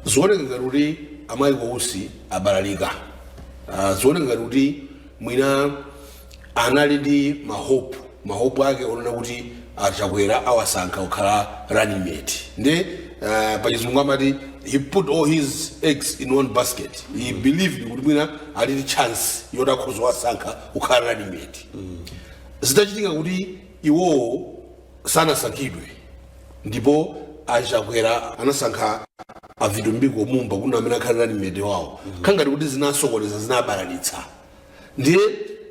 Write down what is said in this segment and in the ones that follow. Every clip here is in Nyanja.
zioneka ngati kuti a Michael Usi abalalika Ah, zioneka ngati kuti mwina anali ndi mahope mahope ake onena kuti a Chakwera awasankha kukhala running mate nde ah, pachizungu amati he put all his eggs in one basket he believed kuti mwina ali ndi chance yoti akhoza kuwasankha kukhala running mate zitachitika kuti iwowo sanasankhidwe ndipo a Chakwera anasankha a Vitumbiko Mumba kuti ndi amene akhale running mate wawo khangati kuti zinasokoneza zinabalalitsa ndiye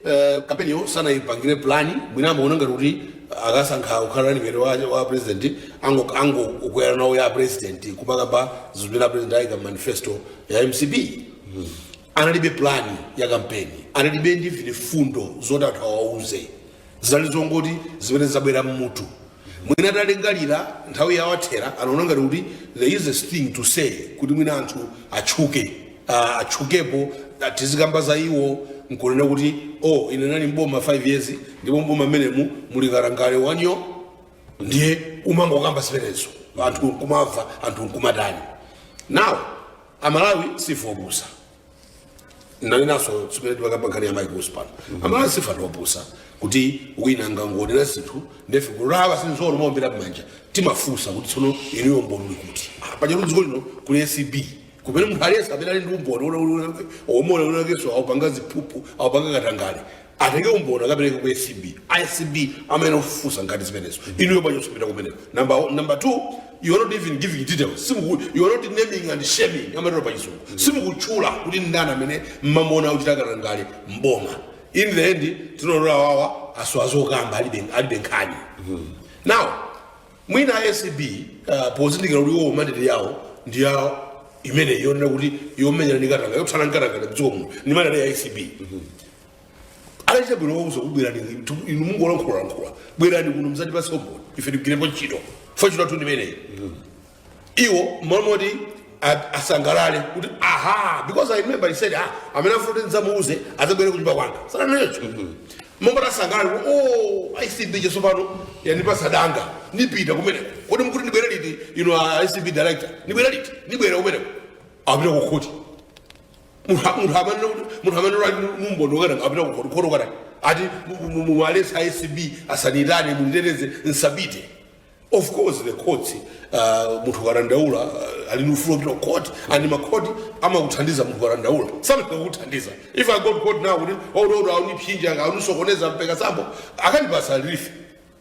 eh, kampeniyo sanayipangire plani mwina amaona ngati kuti akasankha kukhala running mate wa, wa a president ango- angokwera nawo ya a president kumakamba zimene a president ayika mmanifesto ya mcp analibe pulani ya kampeni analibe ndi mfundo zoti anthu awauze zinali zongoti zimene zabwera mmutu mwina atalingalira nthawi yawathera anaona ngati kuti the easiest thing to say kuti mwina anthu atchuke ah, atchukepo ah, tizikamba za iwo nkunena kuti oh ine nali mboma 5 years ndipo mboma mmenemu muli katangale wanyo ndiye kumangokamba zimenezo anthu nkumamva anthu nkumatani now amalawi sife opusa nanenanso zimene timakamba nkhani ya a Michael Usi pano amalawi sife anthu opusa kuti wina angangonena zinthu ndefe kulawa sinzolo kumaombera mmanja timafunsa kuti tsono inuyo umboni uli kuti Ah, paja mudziko lino kuli acb kumene munthu aliyense amene ali ndi umboni oti winawakenso aupanga ziphuphu aupanga katangale atenge umboni akapereke ku acb acb amene ofufuza ngati zimenezo inuyo bwanji osapita kumeneko number, one- number two you are not even giving details simuku you are not naming and shaming amatero pa chizungu simukutchula kuti ndani amene mmamuona akuchita katangale mboma in the end tinaona kuti awa asowa zokamba alibe alibe nkhani now mwina acb uh, pozindikira kuti iwo mandate yawo ndi yawo imene yonena kuti yomenyana ndi katangale yothana ndi katangale mdziko muno ndi mandate ya acb anachita bwino kuwauza kuti bwerani inu mungolankhulalankhula bwerani kuno muzatipatse umboni ife tigwirepo ntchito ife ntchito yathu ndimeneyi iwo mmalo moti a- asangalale kuti aha because i remember he said ah amene afuna kuti ndidzamuuze adzabwere kunyumba kwanga sananene choncho mmalo moti asangalale kuti oh acb tsopano yandipasa danga nipita kumeneko kodi mkuti ndibwere liti inu a acb director ndibwere liti ndibwera kumeneko apita kukhoti munthu a- munthu amanena kuti munthu amene ali ndi umboni wa katangale apita kukhoti kukanena ati muwaletse a acb asanitane munditeteze nsapite of course the courts uh, munthu ukadandaula uh, ali ndi ufulu opita ku court and makhoti amakuthandiza munthu ukadandaula samafika kukuthandiza if i go to court now kuti ododo aunipsinja aunisokoneza mpeka sambo akandipasa relief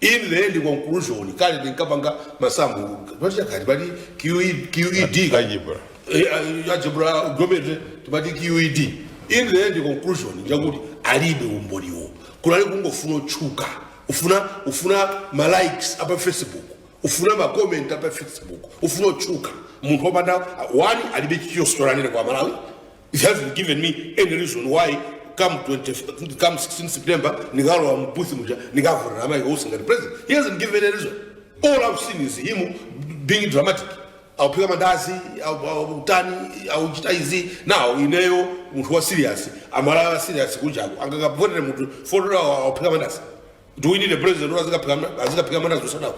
in the end conclusion kale ndinkapanga masamu pati chakati pati QE- qed ka- Algebra. Eh, eh, algebra geometry timati qed in the end conclusion njakuti alibe umboniwo kunali kungofuna utchuka ufuna ufuna ma likes a pa facebook ufuna ma comment a pa facebook ufuna utchuka munthu opanda one alibe chiyositolanire kwa amalawi He hasn't given me any reason why come 20, come 16 September nikalowa mbuthi muja nikavotera amai Usi ngati president. He hasn't given any reason. All I've seen is him being dramatic. Auphika mandazi, au- au- utani, auchita izi. Now ineyo munthu wa serious, amalawa serious kunjaku. Angakavotere munthu fotola auphika mandazi. do we need a president oti azikaphika ma- azikaphika mandazi ku sadc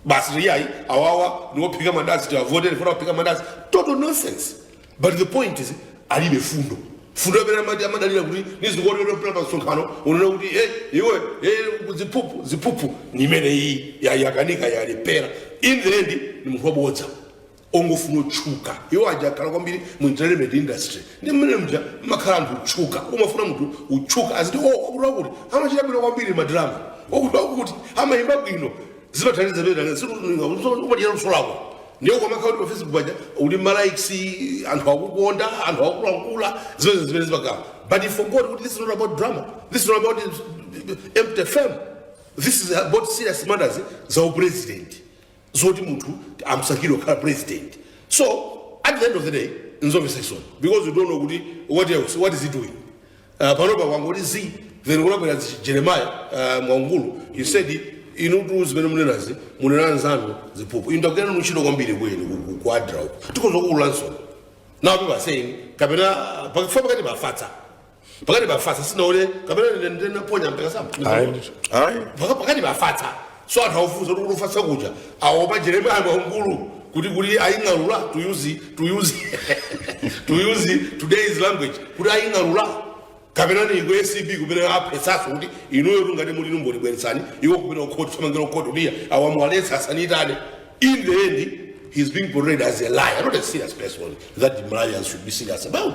basi iyayi awawa niwophika mandazi tiwavotere tifuna kuphika mandazi total nonsense but the point is alibe fundo fundo imene amati amadalira kuti nizikuonelepera pa msonkhano unena kuti e iwe e ziphuphu ziphuphu nimene iyi yakanika yalephera in the end ni munthu wabodza ongofuna utchuka iwo aja akhala kwambiri mu entertainment industry ndi mmene muja makhala anthu otchuka umafuna munthu utchuka aziti o wakuti wakuti amachita bwino kwambiri madrama wakuti wakuti amayimba bwino zimathandiza pena zikuumatira luso lako ndiye ukamakhala kuti pa facebook paja uli malikes anthu akukonda anthu akulankhula zimene zimene zimakhala but he forgot kuti this is not about drama this is not about empty fame this is about serious matters za upresident zoti munthu amusankhire kukhala president so at the end of the day nzomvetsa chisoni because you don't know kuti what else what is he doing uh, panopa kwangoti zii then kunabwera zi- jeremiah uh, mwaungulu he said inutu zimene munenazi munena anzanu ziphuphu inu tagwira nanu ntchito kwambiri kwenu ku adra uko tikhoza kuululanso now people are saying kapena pakifa pakatipa afatsa pakatipa afatsa sinaone kapena ine ndinaponya mpekasamba ayi ndithu ayi Paka- pakatipa afatsa so anthu akufunsa kuti kufatsa kuja aopa jeremiah mwaungulu kuti kuti aying'alula to use to use to use today's language kuti aying'alula kapena ni ku acb kumene afunsaso kuti inuyo ngati muli ni umboni bweretsani iwo kumene ukhoti thamangira ukhoti kuti ya muwaletse asanitane in the end he's being portrayed as a liar not a serious person that malawians should be serious about